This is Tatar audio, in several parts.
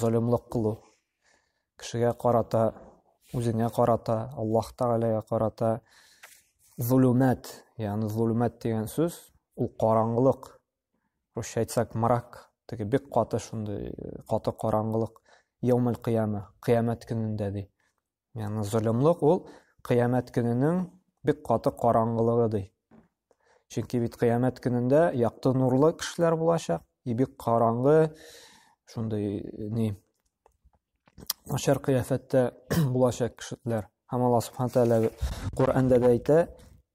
Золымлык кылу. Кешегә карата, үзеңә карата, Аллаһ Тәгаләгә карата зулумат, ягъни зулумат дигән сүз, ул караңгылык. Русча әйтсәк, мрак, теге бик каты шундый, каты караңгылык. Яумәл кыяма, кыямәт көнендә ди. Яны золымлык ул кыямәт көненең бик каты караңгылыгы ди. Чөнки бит кыямәт көнендә якты нурлы кешеләр булачак, и бик караңгы шундый ни начар кыяфәттә булачак кешеләр. Һәм Аллаһ Субхану тәгалә Коръәндә дә әйтә,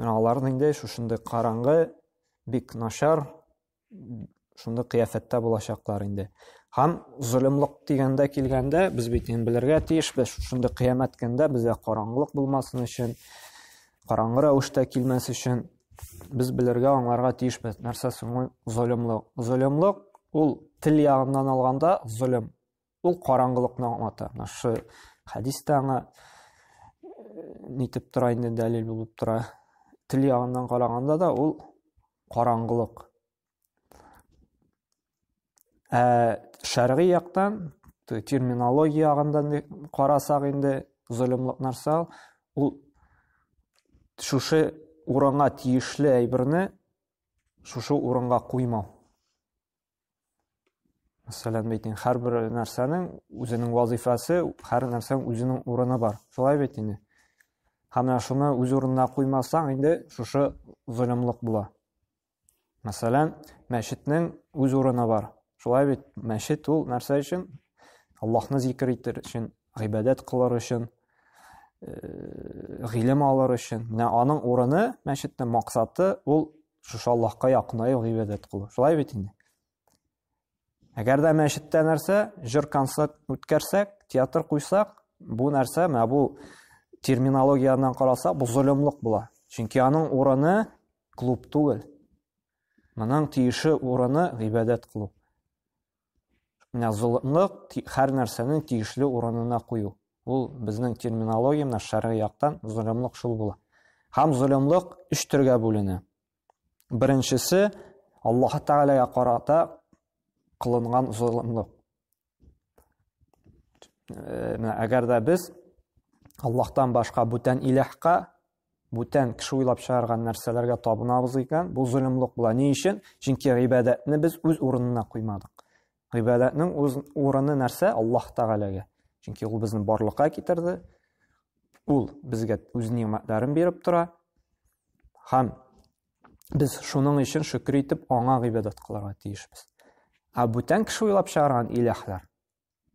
Менә аларны инде шушындый караңгы, бик начар, шундый кыяфәттә булачаклар инде. Һәм золымлык дигәндә килгәндә, без бит инде белергә тиеш, без шундый кыямәт көндә безгә караңгылык булмасын өчен, караңгы рәвештә килмәс өчен без белергә, аңларга тиешбез. Нәрсә соң ул золымлык? Золымлык ул тел ягыннан алганда золым. Ул караңгылыкны аңлата. Менә шу хәдис тә аңа нитеп тора инде дәлил булып тора. Тел ягыннан караганда да ул караңгылык. Ә шәргый яктан терминология ягында карасак инде золымлык нәрсә ул? Ул шушы урынга тиешле әйберне шушы урынга куймау. мәсәлән бит инде һәрбер нәрсәнең үзенең вазифасы һәр нәрсәнең үзенең урыны бар шулай бит инде һәм менә шуны үз урынына куймасаң инде шушы золымлык була мәсәлән мәчетнең үз урыны бар шулай бит мәчет ул нәрсә өчен аллаһны зикер итер өчен гыйбадәт кылыр өчен э, гыйлем алыр өчен менә аның урыны мәчетнең максаты ул Шушы Аллаһка якынаю гыйбадәт кылу. Шулай бит инде. Әгәр дә мәчеттә нәрсә, җыр концерт үткәрсәк, театр куйсак, бу нәрсә, менә бу терминологияннан карасак, бу золымлык була. Чөнки аның урыны клуб түгел. Моның тиеше урыны гыйбадәт кылу. Золымлык, һәр нәрсәне тиешле урынына кую. Ул безнең терминологиямдә шәргый яктан золымлык шул була. Һәм золымлык өч төргә бүленә. Беренчесе Аллаһ Тәгаләгә карата кылынган золымлык. Әгәр дә без Аллаһтан башка бүтән иләһкә Бүтән кеше уйлап чыгарган нәрсәләргә табынабыз икән, бу золымлык була. Ни өчен? Чөнки гыйбадәтне без үз урынына куймадык. Гыйбадәтнең үз урыны нәрсә? Аллаһ Тәгаләгә. Чөнки ул безне барлыкка китерде. Ул безгә үз нимәтләрен биреп тора. Һәм без шуның өчен шөкер итеп аңа гыйбадәт кылырга тиешбез. Ә бүтән кеше уйлап чыгарган иләһләр,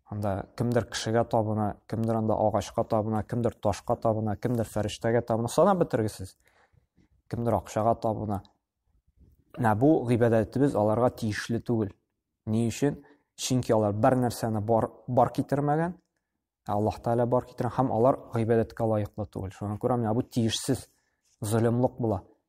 Анда кемдер кешегә табына, кемдер анда агачка табына, кемдер ташка табына, кемдер фәрештәгә табына, санап бетергесез. Кемдер акчага табына. Менә бу гыйбадәтебез аларга тиешле түгел. Ни өчен? Чөнки алар бер нәрсәне бар, бар китермәгән, ә Аллаһ Тәгалә бар китергән һәм алар гыйбадәткә лаеклы түгел. Шуңа күрә менә бу тиешсез, золымлык була.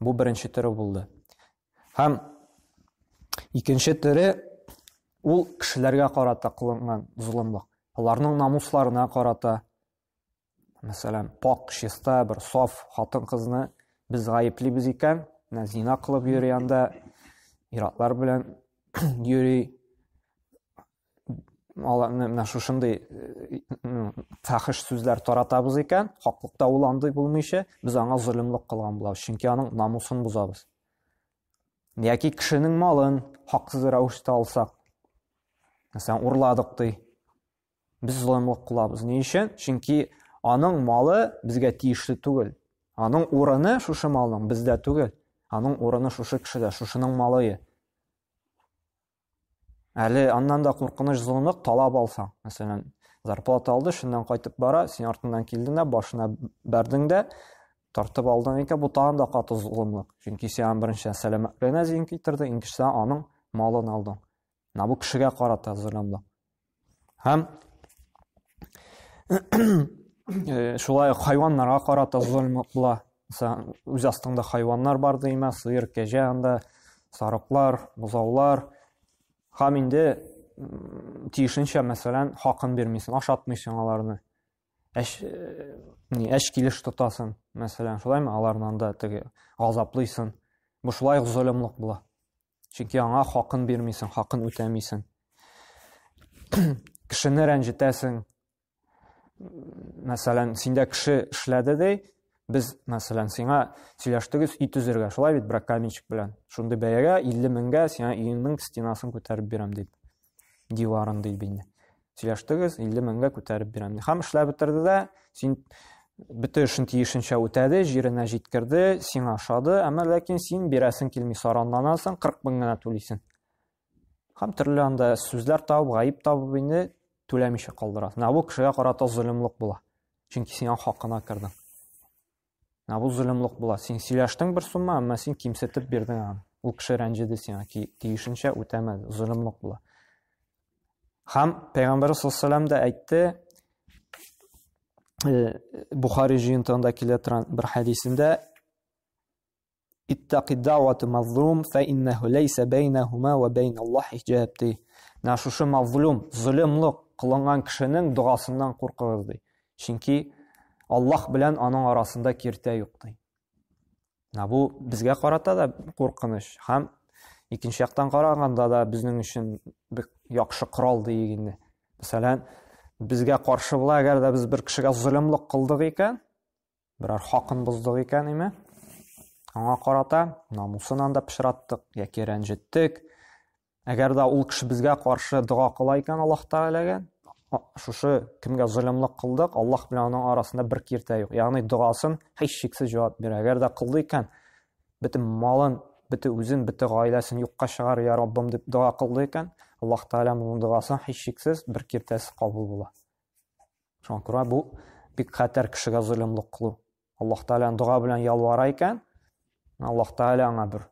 Бу беренче төре булды. Һәм икенче төре ул кешеләргә карата кылынган золымлык. Аларның намусларына карата, мәсәлән, пак, чиста, бер саф хатын-кызны без гаеплибез икән, менә зина кылып йөри анда, иратлар белән йөри, аларны менә шушындый фәхеш сүзләр таратабыз икән хаклыкта ул андый булмыйча без аңа золымлык кылган булабыз чөнки аның намусын бозабыз яки кешенең малын хаксыз рәвештә алсак мәсәлән урладык ди без золымлык кылабыз ни өчен чөнки аның малы безгә тиешле түгел аның урыны шушы малның бездә түгел аның урыны шушы кешедә шушының малые Әле аннан да куркыныч золымлык талап алсаң. Мәсәлән, зарплата алды, шуннан кайтып бара, син артыннан килдең дә, башына бәрдең дә, тартып алдың икән, бу тагын да каты золымлык. Чөнки син аның беренче сәламәтлегенә зыян китердең, икенчедән аның малын алдың. Менә бу кешегә карата золымлык. Һәм э, шулай ук хайваннарга карата золым була. Мәсәлән, үз астыңда хайваннар бар димә, сыер, кәҗә анда, сарыклар, бозаулар. Һәм инде тиешенчә, мәсәлән, хакын бирмисең, ашатмыйсың аларны. Әш э, ни, әш килеш тотасың, мәсәлән, шулаймы? Аларны анда теге газаплыйсың. Бу шулай ук золымлык була. Чөнки аңа хакын бирмисең, хакын үтәмисең. Кешене рәнҗетәсең. Мәсәлән, синдә кеше эшләде ди, без, мәсәлән, сиңа сөйләштегез өй төзергә, шулай бит, брак каменщик белән. Шундый бәягә 50 меңгә сиңа өеңнең стенасын күтәреп бирәм, дип. диварын ди бит сөйләштегез илле меңгә күтәреп бирәм ди һәм эшләп бетерде дә син бөтен эшен тиешенчә үтәде җиренә җиткерде сиңа ошады әмма ләкин син бирәсең килми саранланасың кырык мең генә түлисең һәм төрле анда сүзләр табып гаеп табып инде түләмичә калдырасың ә бу кешегә карата золымлык була чөнки сиңа хакына кердең Ә бу зөлемлек була. Син сөйләштең бер сумма, әмма син кимсетеп бирдең аны. Ул кеше рәнҗеде сиңа, тиешенчә үтәмәде. Зөлемлек була. Хам Пәйгамбәр саллаллаху да әйтте, э, Бухари җыентыгында килә торган бер хәдисендә Иттаки даъвату мазлум фә иннәһу ләйсә бәйнәһума ва бәйналлаһ хиҗаб ди. Менә шушы мазлум, золымлык кылынган кешенең догасыннан куркыгыз ди. Чөнки Аллаһ белән аның арасында киртә юк ди. Менә бу безгә карата да куркыныч һәм икенче яктан караганда да безнең өчен бик яхшы корал диик инде. Мәсәлән, безгә каршы була, әгәр дә без бер кешегә золымлык кылдык икән, берәр хакын боздык икән име аңа карата намусын анда пычраттык яки рәнҗеттек әгәр дә ул кеше безгә каршы дога кыла икән аллаһ тәгаләгә шушы кемгә золымлык кылдык аллаһ белән аның арасында бер киртә юк ягъни догасын һич шиксез җавап бирә әгәр дә кылды икән бөтен малын бөтен үзен бөтен гаиләсен юкка чыгар я раббым дип дога кылды икән аллаһ тәгалә моның догасын һич шиксез бер киртәсез кабул була Шуңа күрә бу бик хәтәр кешегә золымлык кылу. Аллаһ Тәгаләнең дога белән ялвара икән, Аллаһ Тәгалә аңа бер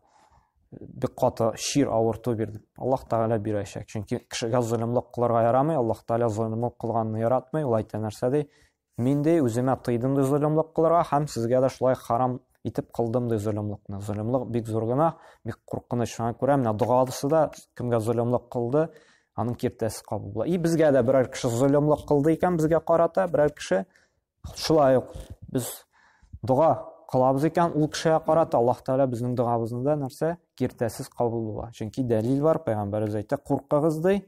бик каты шир авырту бирде. Аллаһ Тәгалә бирәчәк. Чөнки кешегә золымлык кылырга ярамый. Аллаһ Тәгалә золымлык кылганны яратмый. Ул әйтә нәрсә ди? Мин ди үземә тыйдым ди золымлык кылырга һәм сезгә дә шулай харам итеп кылдым ди золымлыкны. Золымлык бик зур гына, бик куркыныч. Шуңа күрә менә догасы да кемгә золымлык кылды, аның киртәсе кабул була. И безгә дә берәр кеше золымлык кылды икән, безгә карата берәр кеше шулай ук без дога кылабыз икән, ул кешегә карата Аллаһ Тәгалә безнең догабызны да нәрсә? Киртәсез кабул була. Чөнки дәлил бар, пәйгамбәребез әйтә, куркыгыз ди,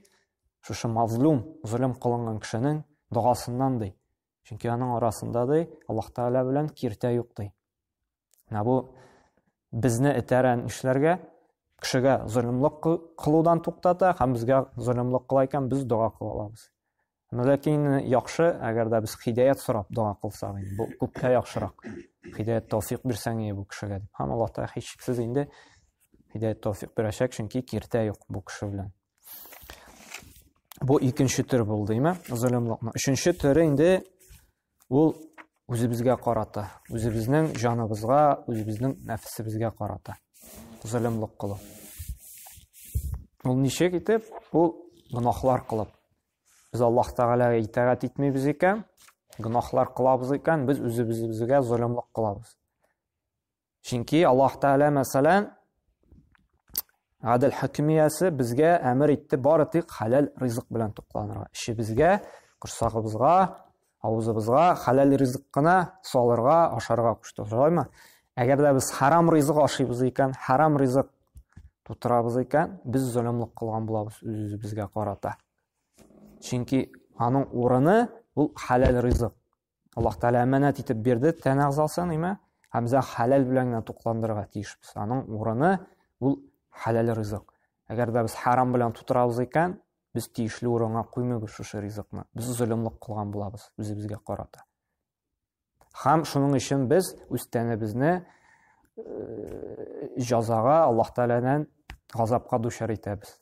шушы мазлум, золым кылынган кешенең догасыннан ди. Чөнки аның арасында ди Аллаһ Тәгалә белән киртә юк ди. Менә бу безне этәрән эшләргә кешегә золымлык кылудан туктата һәм безгә золымлык кыла икән без дога кыла алабыз. Ләкин яхшы, әгәр дә без хидәят сорап дога кылсак, бу күпкә яхшырак. Хидәят тәүфик бирсәң иде бу кешегә дип. Һәм Аллаһ Тәгалә һичшиксез инде хидәят тәүфик бирәчәк, чөнки киртә юк бу кеше белән. Бу икенче төр булды, име? Золымлыкны. Өченче төре инде ул үзебезгә карата, үзебезнең җаныбызга, үзебезнең нәфсебезгә карата. Золымлык кылу. Ул ничек итеп? Ул гынахлар кылып. Без Аллаһ Тәгаләгә итагать итмибез икән, гынахлар кылабыз икән, без үзебезгә золымлык кылабыз. Чөнки Аллаһ Тәгалә мәсәлән гадел хакимиясе безгә әмер итте бары тик хәләл ризык белән тукланырга. Эшебезгә, корсагыбызга, авызыбызга хәләл ризык кына салырга, ашарга кушты. Шулаймы? Әгәр дә без харам ризык ашыйбыз икән, харам ризык тутырабыз икән, без золымлык кылган булабыз үзебезгә карата. Чөнки аның урыны ул хәләл ризык. Аллаһ Тәгалә әманәт итеп бирде тән әгъзасын, әйме? Һәм без хәләл белән генә тукландырырга тиешбез. Аның урыны ул хәләл ризык. Әгәр дә без харам белән тутырабыз икән, без тиешле урынга куймыйбыз шушы ризыкны. Без золымлык кылган булабыз үзебезгә карата. Хам шуның өчен без үз тәнебезне э, җазага Аллаһ Тәгаләдән газапка дучар итәбез.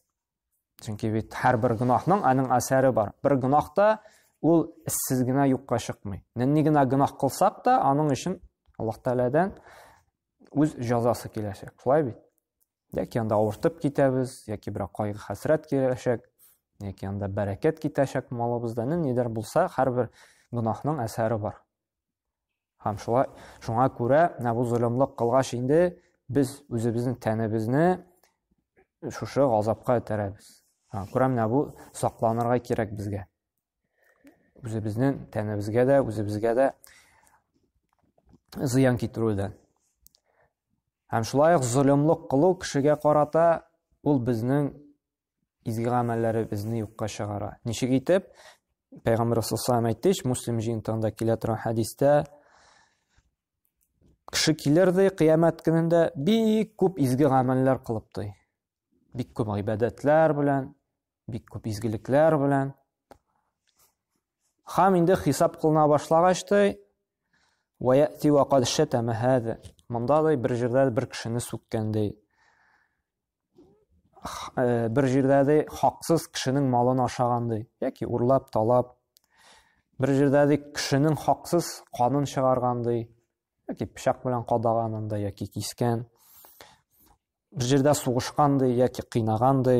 Чөнки бит һәрбер гөнаһның аның әсәре бар. Бер гөнаһ та ул эссез генә юкка чыкмый. Нинди генә гөнаһ кылсак та, аның өчен Аллаһ Тәгаләдән үз җәзасы киләчәк. Шулай бит? Яки анда авыртып китәбез, яки бер кайгы-хәсрәт киләчәк, яки анда бәрәкәт китәчәк малыбызда. Нидер булса, һәрбер гөнаһның әсәре бар. Һәм шулай, шуңа күрә менә бу золымлык кылгач инде без үзебезнең тәнебезне шушы газапка этәрәбез. Күрәм, менә бу сакланырга кирәк безгә. Үзебезнең тәнебезгә дә, үзебезгә дә зыян китерүдән. Һәм шулай ук золымлык кылу кешегә карата ул безнең изге гамәлләребезне юкка чыгара. Ничек итеп? Пәйгамбәр саллаллаху әйтте, Муслим җыентыгында килә торган хәдистә кеше килер ди кыямәт көнендә бик күп изге гамәлләр кылып ди. Бик күп гыйбадәтләр белән, бик күп изгелекләр белән. Хам инде хисап кылына башлагач ди, "Ва яти ва кад шатама хада". Монда да бер җирдә бер кешене сүккән ди. э, бер җирдә ди хаксыз кешенең малын ашаган ди яки урлап талап бер җирдә ди кешенең хаксыз канын чыгарган ди яки пычак белән кадаган анда яки кискән бер җирдә сугышкан ди яки кыйнаган ди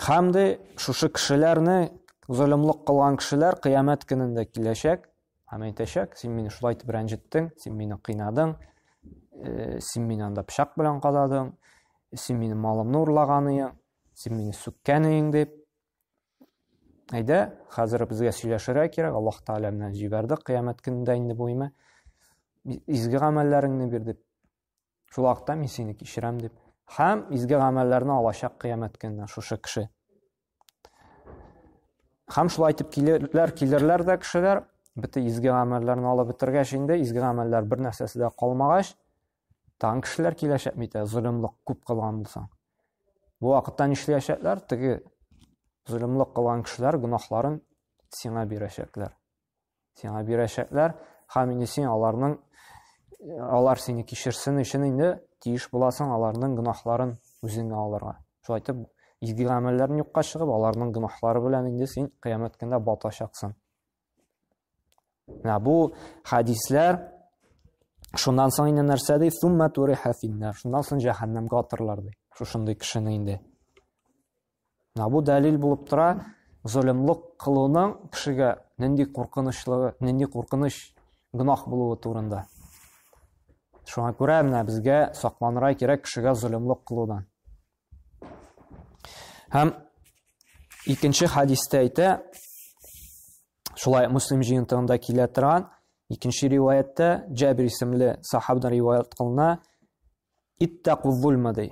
Хәм дә шушы кешеләрне золымлык кылган кешеләр кыямәт көнендә киләчәк һәм әйтәчәк, син мине шулай итеп рәнҗеттең, син мине кыйнадың, э, син мине анда пычак белән кададың, син мине малымны урлаганың, син мине сүккәнең дип. Әйдә, хәзер безгә сөйләшергә кирәк, Аллаһ Тәгалә менә җибәрде кыямәт көнендә инде бу имә. Изге гамәлләреңне бир дип Шул вакытта мин сине кичерәм дип. Һәм изге гамәлләрне алачак кыямәт көнне шушы кеше. Һәм шулай итеп килерләр, килерләр дә кешеләр, бите изге гамәлләрне алып бетергәч инде, изге гамәлләр бер нәрсәсе дә калмагач, тагын кешеләр киләчәк бит, ә золымлык күп кылган булсаң. Бу вакытта нишләячәкләр? Теге золымлык кылган кешеләр гөнаһларын сиңа бирәчәкләр. Сиңа бирәчәкләр, һәм инде син аларның алар сине кичерсен өчен инде тиеш буласың аларның гөнаһларын үзеңә алырга. Шулай итеп, изге гамәлләрен юкка чыгып, аларның гөнаһлары белән инде син кыямәт көндә батачаксың. Менә бу хәдисләр шуннан соң инде нәрсә ди? Сумма туриха финнар. Шуннан соң җәһәннәмгә атырлар ди. Шушындый кешене инде. Менә бу дәлил булып тора, золымлык кылуның кешегә нинди куркынычлыгы, нинди куркыныч гөнаһ булуы турында. Шуңа күрә менә безгә сакланырга кирәк кешегә золымлык кылудан. Һәм икенче хадистә әйтә, шулай Муслим җыентыгында килә торган икенче риваятьтә Җабир исемле сахабдан риваять кылына, иттәкү зулма ди.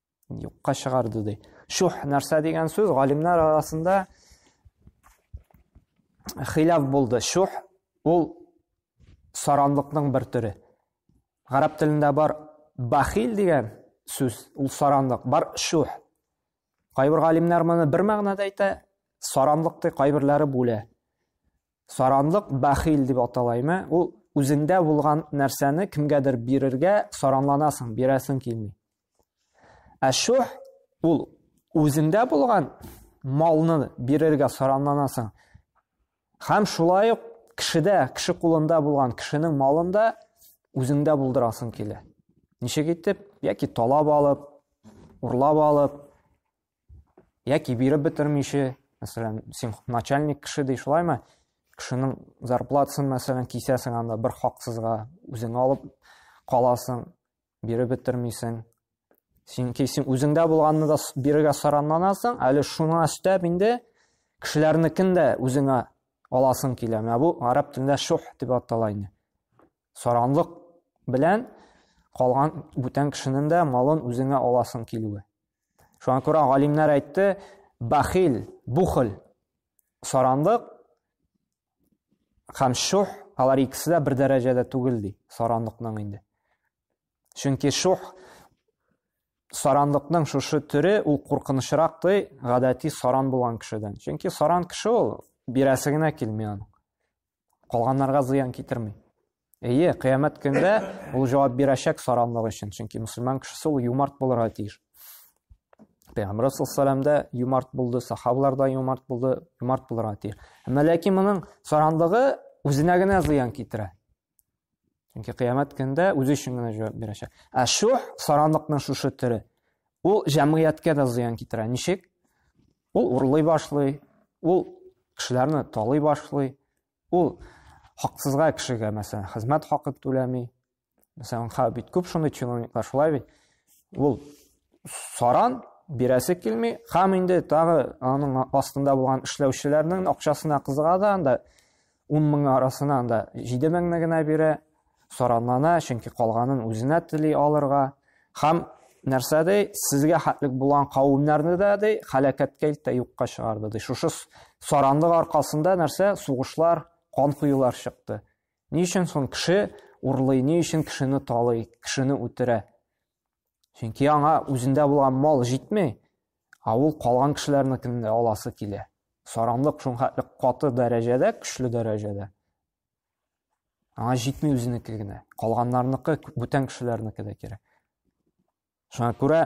юкка чыгарды ди шух нәрсә дигән сүз галимнәр арасында хилаф булды шух ул саранлыкның бер төре гарәп телендә бар бахил дигән сүз ул саранлык бар шух кайбер галимнәр моны бер мәгънәдә әйтә саранлык ди кайберләре бүлә Саранлык бәхил дип аталаймы? Ул үзеңдә булган нәрсәне кемгәдер бирергә саранланасың, бирәсең килми. Ә шух ул үзеңдә булган малны бирергә саранланасың. Хәм шулай ук кешедә, кеше кулында булган кешенең малын да үзеңдә булдырасың килә. Ничек итеп? Яки талап алып, урлап алып, яки биреп бетермичә мәсәлән син начальник кеше ди шулаймы кешенең зарплатасын мәсәлән кисәсең анда бер хаксызга үзең алып каласың биреп бетермисең син кисең үзеңдә булганны да бирегә саранланасың әле шуны өстәп инде кешеләрнекен дә үзеңә аласың килә менә бу гарәп телендә шух дип атала инде Саранлык белән калган бүтән кешенең дә малын үзеңә аласың килүе. Шуңа күрә галимнәр әйтте, бахил, бухл, саранлык һәм шух, алар икесе дә бер дәрәҗәдә түгел ди, саранлыкның инде. Чөнки шух саранлыкның шушы төре ул куркынычрак ди, гадәти саран булган кешедән. Чөнки саран кеше ул бирәсе генә килми аның. калганнарга зыян китерми. Әйе, кыямәт көндә ул җавап бирәчәк саранлык өчен, чөнки мусульман кешесе ул юмарт булырга тиеш. Пәйгамбер саллаллаху да юмарт булды, сахабалар да юмарт булды, юмарт булырга тиеш. Әмма ләкин моның саранлыгы үзенә генә зыян китерә. Чөнки кыямәт көндә үзе өчен генә җавап бирәчәк. Ә шух саранлыкның шушы төре ул җәмгыятькә дә зыян китерә. Ничек? Ул урлый башлый, ул кешеләрне талый башлый, ул хаксызга кешегә, мәсәлән, хезмәт хакын түләми. Мәсәлән, ха бит күп шундый чиновниклар шулай бит. Ул саран бирәсе килми, хам инде тагы аның астында булган эшләүчеләрнең акчасына кызыга да, анда Ун мең арасынан да җиде меңне генә бирә, соранлана, чөнки калганын үзенә тели алырга. Һәм нәрсә ди, сезгә хәтлек булган кавемнәрне дә ди, хәлакәткә илтә юкка чыгарды ди. Шушы саранлык аркасында нәрсә, сугышлар, кан коюлар чыкты. Ни өчен соң кеше урлый, ни өчен кешене талый, кешене үтерә? чөнки аңа үзендә булган мал җитми ә ул калган кешеләрнекен дә аласы килә саранлык шулхәтле каты дәрәҗәдә көчле дәрәҗәдә аңа җитми үзенеке генә калганнарныкы бүтән кешеләрнеке дә кирәк шуңа күрә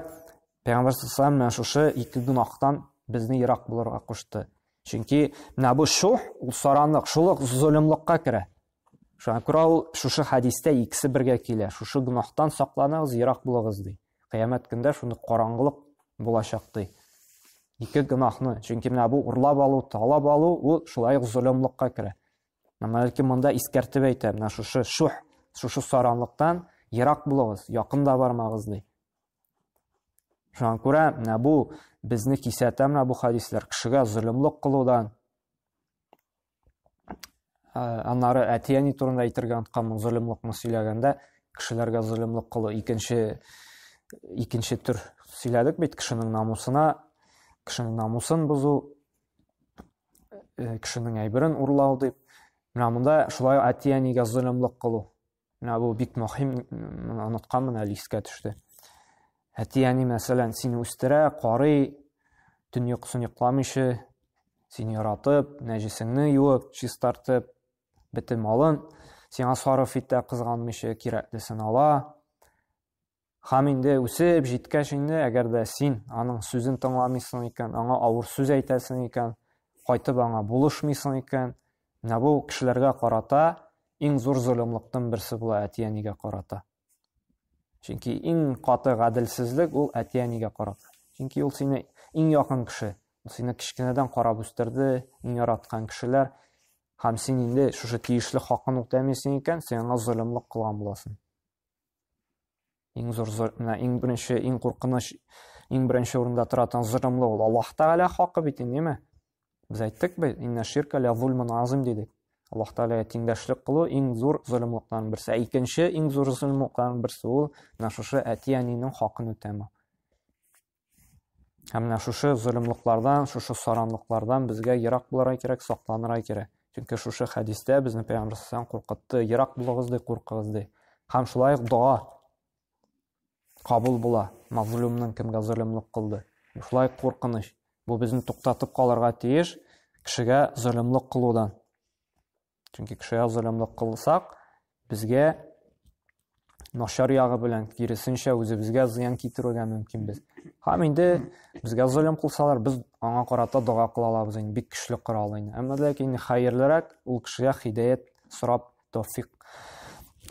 пәйгамбәр саллаллаху менә шушы ике гөнаһтан безне ерак булырга кушты чөнки менә бу шух ул саранлык шул ук золымлыкка керә Шуңа күрә ул шушы хәдистә икесе бергә килә, шушы гөнаһтан сакланыгыз, ерак булыгыз, ди. Кыямәт көндә шундый караңгылык булачак, ди. Ике гөнаһны, чөнки менә бу урлап алу, талап алу, ул шулай ук золымлыкка керә. Менә бәлки монда искәртеп әйтә, менә шушы шух, шушы саранлыктан ерак булыгыз, якын да бармагыз, ди. Шуңа күрә менә бу безне кисәтә менә бу хәдисләр кешегә золымлык кылудан, аннары әти әни турында әйтергә онытканмын золымлыкны сөйләгәндә кешеләргә золымлык кылу икенче икенче төр сөйләдек бит кешенең намусына кешенең намусын бозу кешенең әйберен урлау дип менә монда шулай әти әнигә золымлык кылу Менә бу бик мөһим, моны онытканмын әле искә төште. Әти-әни, мәсәлән, сине үстерә, карый, төн йокысын йокламыйча, сине яратып, нәҗесеңне юып, чистартып, бөтен малын сиңа сарыф итә, кызганмыйча кирәклесен ала. Хам инде үсеп җиткәч инде, әгәр дә син аның сүзен тыңламыйсың икән, аңа авыр сүз әйтәсең икән, кайтып аңа булышмыйсың икән, менә бу кешеләргә карата иң зур золымлыктан берсе була әти-әнигә карата. Чөнки иң каты гаделсезлек ул әти-әнигә карата. Чөнки ул сине иң якын кеше, ул сине кечкенәдән карап үстерде, иң яраткан кешеләр. Һәм син инде шушы тиешле хакын үтәмисең икән, син аңа золымлык кылган буласың. Иң зур менә иң беренче, иң куркыныч, иң беренче урында тора торган золымлы ул Аллаһ Тәгалә хакы бит инде, ниме? Без әйттек бит, инна ширка ля зульмун азим дидек. Аллаһ Тәгаләгә тиңдәшлек кылу иң зур золымлыктан берсе. Ә икенче иң зур золымлыктан берсе ул менә шушы әти-әнинең хакын үтәмәү. Һәм менә шушы золымлыклардан, шушы саранлыклардан безгә ерак булырга кирәк, сакланырга кирәк. Чөнки шушы хәдистә безне Пәйгамбер сәлләм куркытты, ерак булыгыз ди, куркыгыз ди. Һәм шулай ук дога кабул була. Мазлумның кемгә золымлык кылды? Шулай куркыныч. Бу безне туктатып калырга тиеш кешегә золымлык кылудан. Чөнки кешегә золымлык кылсак, безгә начар ягы белән киресенчә үзебезгә зыян китерергә мөмкин без. Һәм инде безгә золым кылсалар, без аңа карата дога кыла алабыз инде, бик көчле корал инде. Әмма ләкин хәерлерәк ул кешегә хидәят сорап, тәүфик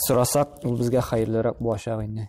сорасак, ул безгә хәерлерәк булачак инде.